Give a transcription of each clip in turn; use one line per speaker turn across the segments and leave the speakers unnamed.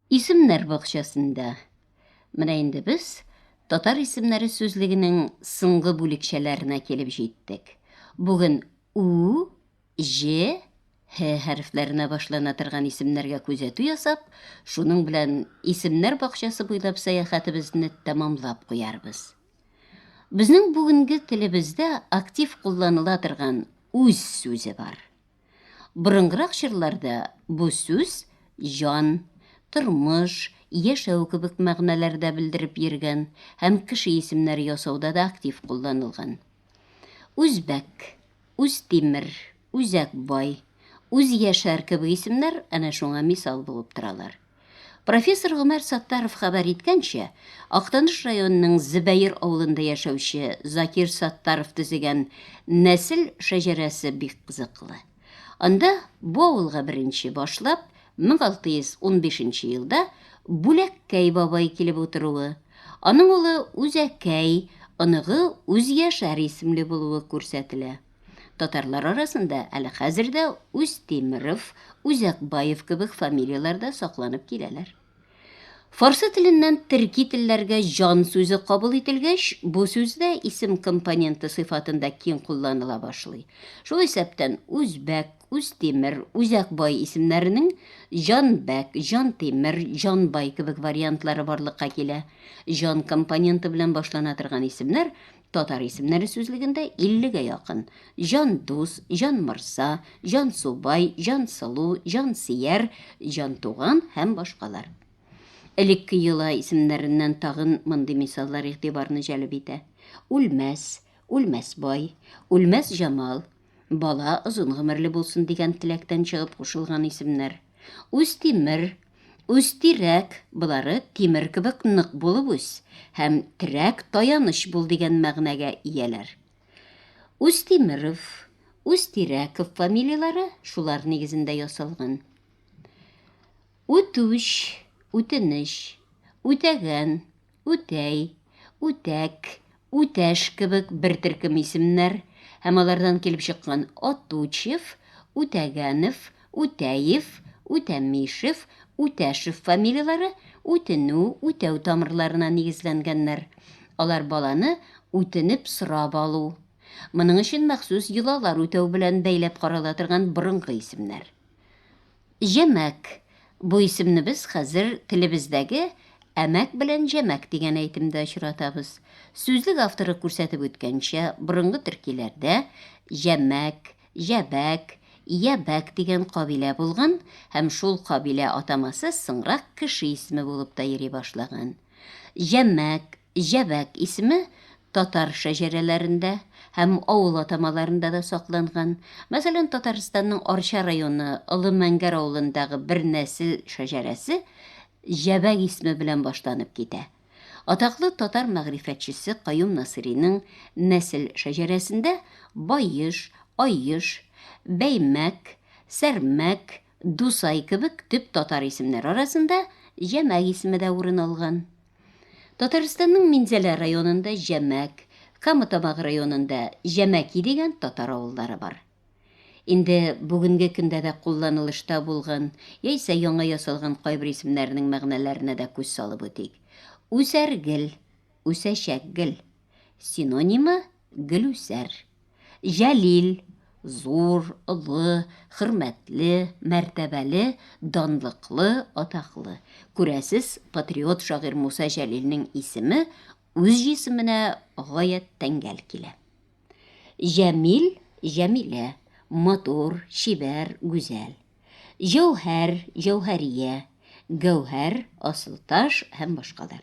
Исемнәр бакчасында. Менә инде без татар исемнәре сүзлегенең соңгы бүлекчәләренә килеп җиттек. Бүген у, ж, һ хәрефләренә башлана торган исемнәргә күзәтү ясап, шуның белән исемнәр бакчасы буйлап сәяхәтебезне тәмамлап куярбыз. Безнең бүгенге телебездә актив кулланыла торган үз сүзе бар. Борынгырак чорларда бу сүз җан, тормыш, яшәү кебек мәгънәләрдә белдереп йөргән һәм кеше исемнәре ясауда да актив кулланылган. Үзбәк, Үзтимер, Үзәк бай, Үзьяшәр кебек исемнәр әнә шуңа мисал булып торалар. Профессор Гомәр Саттаров хәбәр иткәнчә, Актаныш районының Зөбәер авылында яшәүче Закир Саттаров төзегән нәсел шәҗәрәсе бик кызыклы. Анда бу авылга беренче башлап 1615 нче елда Бүләккәй бабай килеп утыруы, аның улы Үзәкәй, оныгы Үзьяшәр исемле булуы күрсәтелә. Татарлар арасында әле хәзер дә Устемиров, Үзәкбаев кебек фамилияләр дә сакланып киләләр. Фарсы теленнән төрки телләргә җан сүзе кабул ителгәч, бу сүз дә исем компоненты сыйфатында киң кулланыла башлый. Шул исәптән Үзбәк, Устемир, Үзәкбай исемнәренең Җанбәк, Җантимер, Җанбай кебек вариантлары барлыкка килә. Җан компоненты белән башлана торган исемнәр Татар исемнәре сүзлегендә 50 гә якын җан дус, җан морса, җан субай, җан сылу, җан сияр, җан туган һәм башкалар. Элекке йола исемнәреннән тагын мондый мисаллар игътибарны җәлеп итә. Үлмәс, Үлмәс бай, Үлмәс Җамал, Бала озын гомерле булсын дигән теләктән чыгып кушылган исемнәр. Үзтимер, Үзтирәк болары тимер кебек нык булып үс һәм терәк таяныч бул дигән мәгънәгә ияләр. Үзтимеров, Үзтирәков фамилияләре шулар нигезендә ясалган. Үтүч, үтенеч, үтәгән, үтәй, үтәк, үтәш кебек бер төркем исемнәр һәм алардан килеп чыккан Отучев, Үтәгәнов, Үтәев, Үтәмишев, Үтәшев фамилияләре үтенү, үтәү тамырларына нигезләнгәннәр. Алар баланы үтенеп сорап алу. Моның өчен махсус йолалар үтәү белән бәйләп карала торган борынгы исемнәр. Җәмәк, бу исемне без хәзер телебездәге әмәк белән җәмәк дигән әйтемдә очратабыз. Сүзлек авторы күрсәтеп үткәнчә, борынгы төркиләрдә Җәмәк, Җәбәк, Ябәк дигән кабилә булган һәм шул кабилә атамасы соңрак кеше исеме булып та йөри башлаган. Җәмәк, Җәбәк исеме татар шәҗәрәләрендә һәм авыл атамаларында да сакланган. Мәсәлән, Татарстанның Арча районы Олы Мәңгәр авылындагы бер нәсел шәҗәрәсе Җәбәк исеме белән башланып китә. Атаклы татар мәгърифәтчесе Каюм Насыйриның нәсел шәҗәрәсендә Баеш, Аеш, Бәймәк, Сәрмәк, Дусай кебек төп татар исемнәр арасында Җәмәк исеме дә урын алган. Татарстанның Минзәлә районында Җәмәк, Камытамак районында Җәмәки дигән татар авыллары бар. Инде бүгенге көндә дә кулланылышта булган яисә яңа ясалган кайбер исемнәрнең мәгънәләренә дә күз салып үтик. Үсәргел, үсәчәкгел. Синонимы, Гөлүсәр. Җәлил, зур, олы, хөрмәтле, мәртәбәле, данлыклы, атаклы. Күрәсез, патриот шагыйрь Муса Җәлилнең исеме үз җисеменә гаять тәңгәл килә. Җәмил, Җәмилә, матур, чибәр, гүзәл. Җәүһәр, Җәүһәрия, гәүһәр, асылташ һәм башкалар.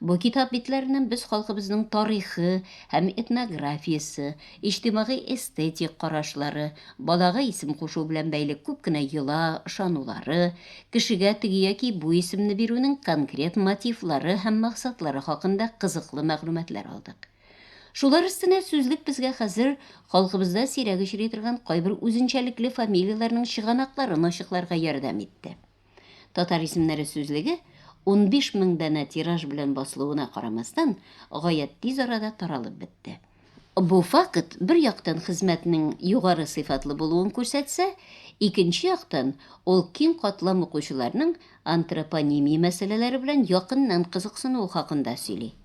Бу китап битләреннән без халкыбызның тарихы һәм этнографиясе, иҗтимагый-эстетик карашлары, балага исем кушу белән бәйле күп кенә йола, ышанулары, кешегә теге яки бу исемне бирүнең конкрет мотивлары һәм максатлары хакында кызыклы мәгълүматлар алдык. Шулар өстенә сүзлек безгә хәзер халкыбызда сирәк очрый торган кайбер үзенчәлекле фамилияләрнең чыганакларын ачыкларга ярдәм итте. Татар исемнәре сүзлеге, унбиш мең данә тираж белән басылуына карамастан, гаять тиз арада таралып бетте. Бу факт, бер яктан, хезмәтнең югары сыйфатлы булуын күрсәтсә, икенче яктан, ул киң катлам укучыларның антропонимия мәсьәләләре белән якыннан кызыксынуы хакында сөйли.